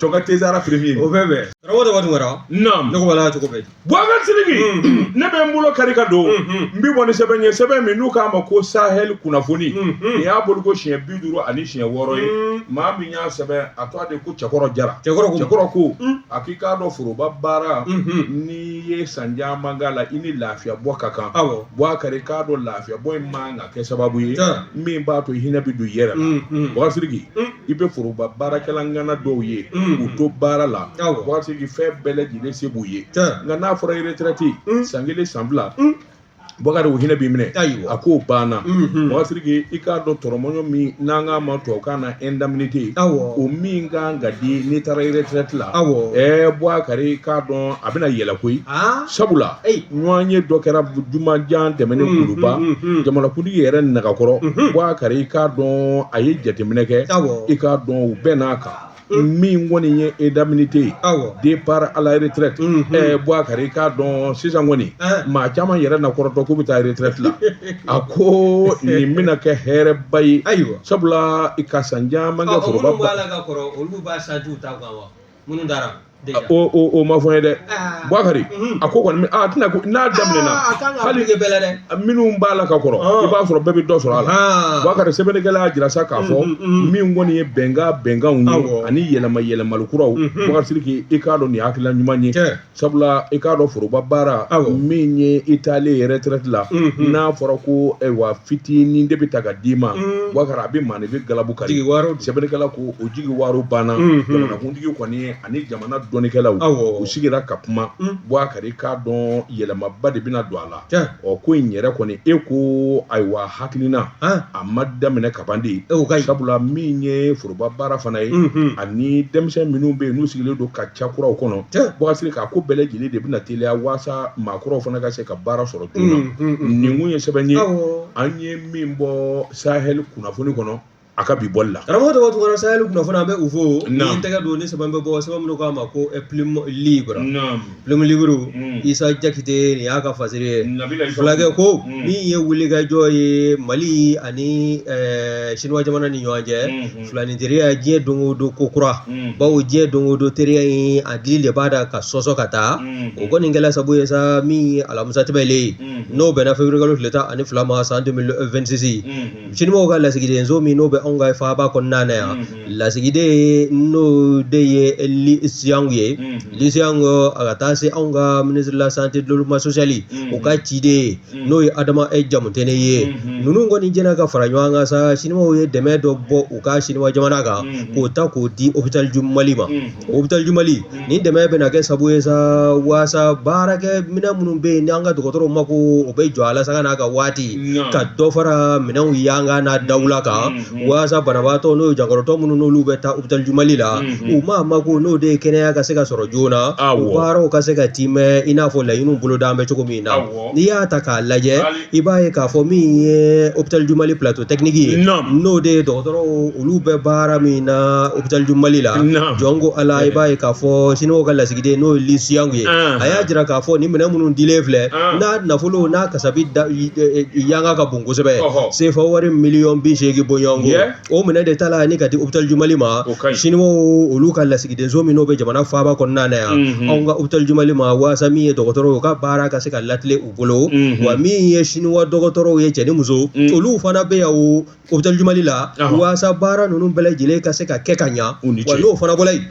Speaker 1: jɔ ka tezara firimi o bɛɛ bɛɛ tɔgɔ
Speaker 2: dɔgɔ tɔgɔ dɔgɔ naam ne ko wala cogo bɛɛ buwakari sidiki
Speaker 1: ne bɛ n bolo kari ka don n bɛ bɔ ni sɛbɛn ye sɛbɛn min n'u k'a ma ko sahɛli kunnafoni nin y'a bɔko siɲɛ bi duuru ani siɲɛ wɔɔrɔ ye maa min y'a sɛbɛn a tɔgɔ de ko cɛkɔrɔ jara cɛkɔrɔ ko cɛkɔrɔ ko a k'i k'a dɔn foroba baara n'i ye san caman k'a la i ni lafiya bɔ ka kan awɔ buwakari k'a dɔn lafiya bɔ in man kan kɛ sababu ye min b'a to hinɛ bɛ don i yɛrɛ la buwakari sidiki i bɛ foroba baarakɛla ŋana dɔw ye u to baara la buwakari sidiki fɛn bɛɛ lajɛlen se b'u ye nka n'a fɔra retreti san kelen san fila buwakari u hinɛ b'i minɛ a k'o banna buwakari sidiki i k'a dɔn tɔrɔmɔɲɔ min n'an k'a ma tubabukan na indemnité o min ka kan ka di n'i taara retreti la buwakari k'a dɔn a bɛna yɛlɛ koyi sabula ɲɔgɔn ye dɔ kɛra jumanjan tɛmɛnen kuluba jamanakuntigi yɛrɛ nagakɔrɔ buwakari i k'a dɔn a ye jateminɛ kɛ i k'a dɔn u bɛnn'a kan min kɔni ye indemnité de départ à la retraite buwakari i k'a dɔn sisan kɔni maa caman yɛrɛ na kɔrɔtɔ k'u bɛ taa retreti la a ko nin bɛna kɛ hɛrɛba ye ayiwa sabula i ka san caman
Speaker 2: minnu taara o o o
Speaker 1: ma fɔ n ye dɛ buwakari a ko kɔni a tɛna ko n'a daminɛna hali
Speaker 2: minnu
Speaker 1: b'a la ka kɔrɔ i b'a sɔrɔ bɛɛ bɛ dɔ sɔrɔ a la buwakari sɛbɛnnikɛla y'a jira sa k'a fɔ min kɔni ye bɛnkan bɛnkanw ye ani yɛlɛma yɛlɛmali kuraw buwakari sidiki i k'a dɔn nin hakilila ɲuman ye sabula i k'a dɔn foroba baara min ye i taalen retraite la n'a fɔra ko ayiwa fitinin de bɛ ta ka d'i ma Buwakari a bɛ maa de bɛɛ galabu kari sɛbɛnnikɛla ko o jigiwaaro banna jamanakuntigi kɔni ani jamana dɔnnikɛlaw u sigira ka kuma Buwakari i k'a dɔn yɛlɛmaba de bɛna don a la ɔ ko in yɛrɛ kɔni e ko ayiwa hakilina a ma daminɛ kaban de sabula min ye foroba baara fana ye ani denmisɛn minnu bɛ yen n'u sigilen don ka ca kuraw kɔnɔ Buwakari k'a ko bɛɛ lajɛlen de bɛna teliya waasa maa kuraw fana ka se ka baara sɔrɔ joona nin kun ye sɛbɛn ye an ye min bɔ Sahel kunnafoni kɔnɔ a ka bi bɔli la karamɔgɔ dɔgɔ tugara Sahel
Speaker 2: kunnafoni an bɛ u fo n tɛgɛ don ni sɛbɛn bɛ bɔ sɛbɛn min k'a ma ko Plume Libre Plume Libre isa jakite nin y'a ka fasiri ye fulakɛ ko min ye wulikajɔ ye mali ani siniwa jamana ni ɲɔgɔn cɛ filaninteriya diɲɛ don o don ko kura bawo diɲɛ don o don teriya in a dili de b'a da ka sɔsɔ ka taa o kɔni kɛla sabu ye sa min ye alamisa tɛmɛnen n'o bɛnna février kalo tile tan ani fila ma san 2026 Siniwaw ka lasigidenso min n'o bɛ anw ka faaba kɔnɔna na yan lasigiden n'o de ye Li Xiang ye Li Xiang a ka taa se anw ka ministre de la santé du développement social o ka ciden n'o ye adama e jamutɛnɛ ye ninnu kɔni jɛnna ka fara ɲɔgɔn kan sa siniwaw ye dɛmɛ dɔ bɔ u ka siniwa jamana kan k'o ta k'o di hôpital du Mali ma Hôpital du Mali ni dɛmɛ bɛna kɛ sabu ye sa waasa baarakɛ minɛn minnu bɛ yen n'an ka dɔgɔtɔrɔw mako o bɛ jɔ a la sanga n'a ka waati ka dɔ fara minɛnw yanga n'a dawula kan walasa banabaatɔ n'o ye jankarotɔ minnu n'olu bɛ taa hôpital du Mali la u ma mako n'o de ye kɛnɛya ka se ka sɔrɔ joona u baaraw ka se ka tiimɛ i n'a fɔ laɲini bolodalen bɛ cogo min na n'i y'a ta k'a lajɛ i b'a ye k'a fɔ min ye hôpital du Mali plateau technique ye n'o de ye dɔgɔtɔrɔ olu bɛ baara min na hôpital du Mali la jɔn ko ala i b'a ye k'a fɔ siniwa ka lasigiden n'o ye Li Xiang ye a y'a jira k'a fɔ ni minɛn minnu dilen filɛ n'a nafolo n'a kasabi yanga ka bon kosɛbɛ sefa wari miliyɔn bi seegin bɔɲɔgɔnko o minɛn de tala ni ka di hôpital du Mali ma siniwa olu ka lasigidenso min n'o bɛ jamana faaba kɔnɔna na yan anw ka hôpital du Mali ma waasa min ye dɔgɔtɔrɔw ka baara ka se ka lati bolo wa min ye siniwa dɔgɔtɔrɔw ye cɛ ni muso olu fana bɛ yan hôpital du Mali la waasa baara ninnu bɛɛ lajɛlen ka se ka kɛ ka ɲa n'o fana bɔla yen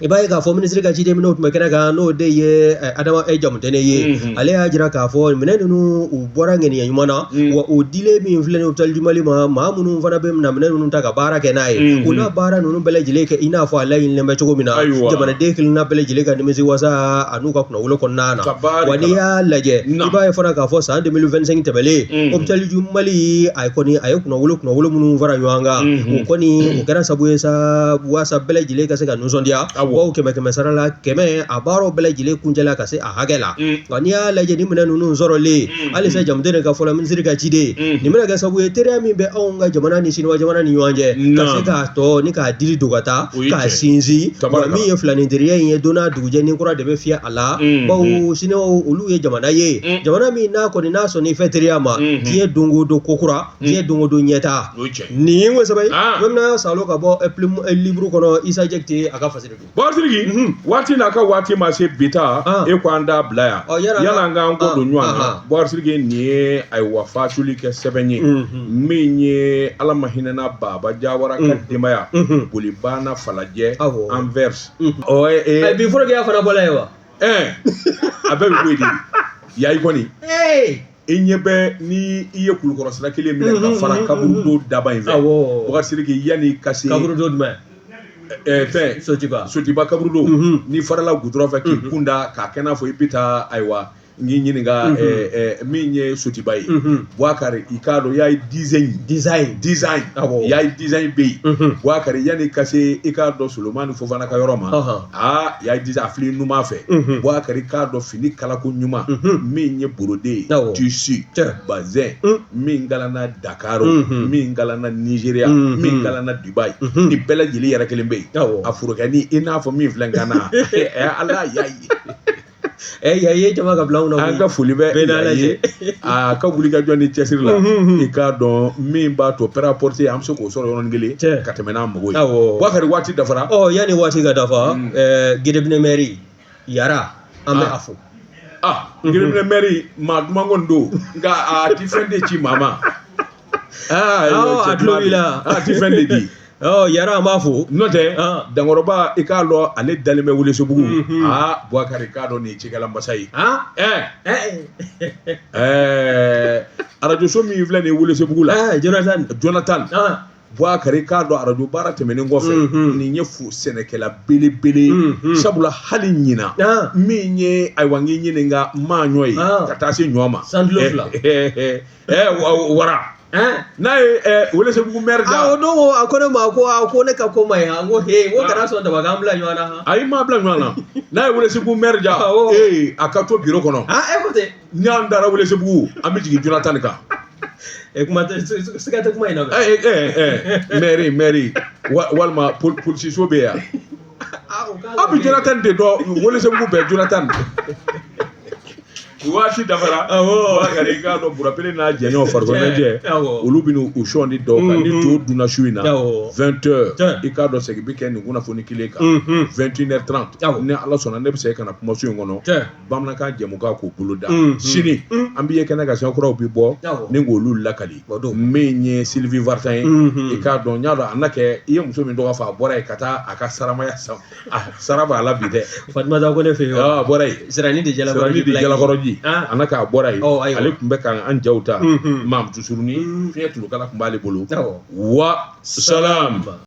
Speaker 2: i b'a ye k'a fɔ minisiri ka ciden minnu tun bɛ kɛnɛ kan n'o de ye adama jamutɛnɛ ye ale y'a jira k'a fɔ minɛn ninnu u bɔra ŋaniya ɲuman na wa o dilen min filɛ hôpital du Mali ma maa minnu fana bɛ minɛn ninnu ta ka baara kɛ n'a ye u baara ninnu bɛɛ lajɛlen kɛ i n'a fɔ a laɲinilen bɛ cogo min na jamanaden kelenna bɛɛ lajɛlen ka nimisi wasa ani ka kunnawolo kɔnɔna na wa n'i y'a lajɛ i b'a ye fana k'a fɔ san deux mille vingt-cinq tɛmɛnen hôpital du mali a ye kɔni a ye kunnawolo kunnawolo minnu fara ɲɔgɔn kan o kɔni o kɛra sabu ye sa walasa bɛɛ lajɛlen ka se ka nisɔndiya bawo kɛmɛ kɛmɛ sara la kɛmɛ a baaraw bɛɛ lajɛlen kuncɛla ka se a hakɛ la nka n'i y'a lajɛ ni minɛn ninnu sɔrɔlen halisa jamutene ka fɔ la minisiri ka ciden nin bɛna kɛ sabu ye teriya min bɛ anw ka jamana ni siniwa jamana ni ɲɔgɔn cɛ ka se k'a tɔ ni k'a dili don ka taa k'a sinsin min ye filanin teriya in ye donna jɛ ni kura de bɛ fiyɛ a la bawo siniwa olu ye jamana ye jamana min n'a kɔni n'a sɔnna i fɛ teriya ma diɲɛ don o don ko kura diɲɛ don o don ɲɛtaa nin ye o sɛbɛn ye bamanan salo ka bɔ plume libre kɔnɔ isa jakite a ka fasiri buakari sidiki
Speaker 1: waati n'a ka waati ma se bi taa e ko an da bila yan yala an k'an ko don ɲɔgɔn na buakari sidiki nin ye ayiwa fatuli kɛ sɛbɛn ye min ye ala ma hinɛna baba jawara ka denbaya boli banna falajɛ an fɛ
Speaker 2: bi forokiya fana bɔra ye
Speaker 1: wa a bɛɛ bɛ bɔ yen de yaye kɔni i ɲɛ bɛ ni i ye kulukɔrɔsira kelen minɛ ka fara kaburudo daba in fɛ buakari sidiki yanni ka se kaburudo
Speaker 2: jumɛn
Speaker 1: fɛn sotiba sotiba kaburudo ni farala gudɔrɔn fɛ k'i kun da k'a kɛ n'a fɔ i bɛ taa ayiwa n k'i ɲininka mm -hmm. eh, eh, min ye sotiba ye mm -hmm. buakari i k'a dɔn yaye design design design awɔ yaye design bɛ yen mm -hmm. buakari yanni ka se i k'a dɔn solomani fofana ka yɔrɔ ma uh -huh. aa yaye design a fili numan fɛ mm -hmm. buakari k'a dɔn fini kalako ɲuman mm -hmm. min ye borode ye awɔ tissu bazin mm -hmm. min galana dakaro mm -hmm. min galana nigeria mm -hmm. min galana dubai mm -hmm. ni bɛɛ lajɛlen yɛrɛ kelen bɛ yen awɔ a forokɛnin i n'a fɔ min filɛ n kan na ala y'a ye ɛ yaye jama ka
Speaker 2: bila anw na an ka foli bɛ ɛɛ yaye
Speaker 1: ye a ka wuli ka jɔ ni cɛsiri la i k'a dɔn min b'a to prêt-à-porter an bɛ se k'o sɔrɔ yɔrɔnin kelen Cɛ. ka tɛmɛ n'a mago ye Awɔ. buakari waati dafara ɔ yanni waati ka
Speaker 2: dafa ɛɛ gedebinɛ mɛri yara an bɛ Ah. a fo ah giriminɛ
Speaker 1: mɛri maa duman kɔni don nka a ti fɛn de ci maa ma
Speaker 2: Aa a tulo b'i la a tɛ fɛn de
Speaker 1: di Yara an
Speaker 2: b'a fo n'o
Speaker 1: tɛ Dankɔrɔba i k'a dɔn ale dalen bɛ Welesebugu aa Bukari i k'a dɔn nin ye cikɛla masa ye arajo so min filɛ nin ye Welesebugu la Jonathan Bukari i k'a dɔn arajo baara tɛmɛnen kɔfɛ nin ye sɛnɛkɛla belebele ye sabula hali ɲinan min ye ayiwa n k'i ɲininka n m'a ɲɔɔn ye ka taa se ɲɔ ma sanjilo fila. ɛɛ wa- wara ɛn n'a ye ɛɛ welesebugu mɛri a o da don ko a ko ne
Speaker 2: ma ko a ko ne ka ko ma ye han n ko he n ko kana sɔn daba k'an bila ɲɔgɔn na han ayi m'a bila ɲɔgɔn na
Speaker 1: n'a ye welesebugu mɛri da Awɔ. ee a ka to biro kɔnɔ ah e ko ten
Speaker 2: n'an taara
Speaker 1: welesebugu an bɛ jigin jonathan de kan e kuma
Speaker 2: tɛ s- s- siga tɛ kuma in na bɛ ɛɛ ɛɛ ɛɛ mɛri mɛri
Speaker 1: wa- walima pol- polisiso bɛ yan aw bɛ jonathan de dɔn welesebugu bɛɛ jonathan waati dafara i k'a dɔn bura pele n'a jɛɲɔgɔn farikoloɲɛnajɛ olu bɛ n'u sɔn ni dɔw kan ni to dunna su in na vingt heures i k'a dɔn segin bɛ kɛ nin kunnafoni kelen kan vingt et une heures trente ni ala sɔnna ne bɛ segin ka na kumaso in kɔnɔ bamanankan jɛmukan k'o bolo da sini an bɛ ye kɛnɛ kan siɲɛkuraw bɛ bɔ ni k' olu lakali min ye sylvie vartan ye i k'a dɔn n y'a dɔn a na kɛ i ye muso min tɔgɔ fɔ a bɔra yen ka taa a ka saramaya sa sara b'a la bi dɛ fa ko ne
Speaker 2: fɛ yen a bɔra yen
Speaker 1: siranni
Speaker 2: de
Speaker 1: jalakɔrɔji a na k'a bɔra yen ale tun bɛ ka an jaw ta mamutu surunin fiɲɛ tulukala tun b'ale bolo wa salam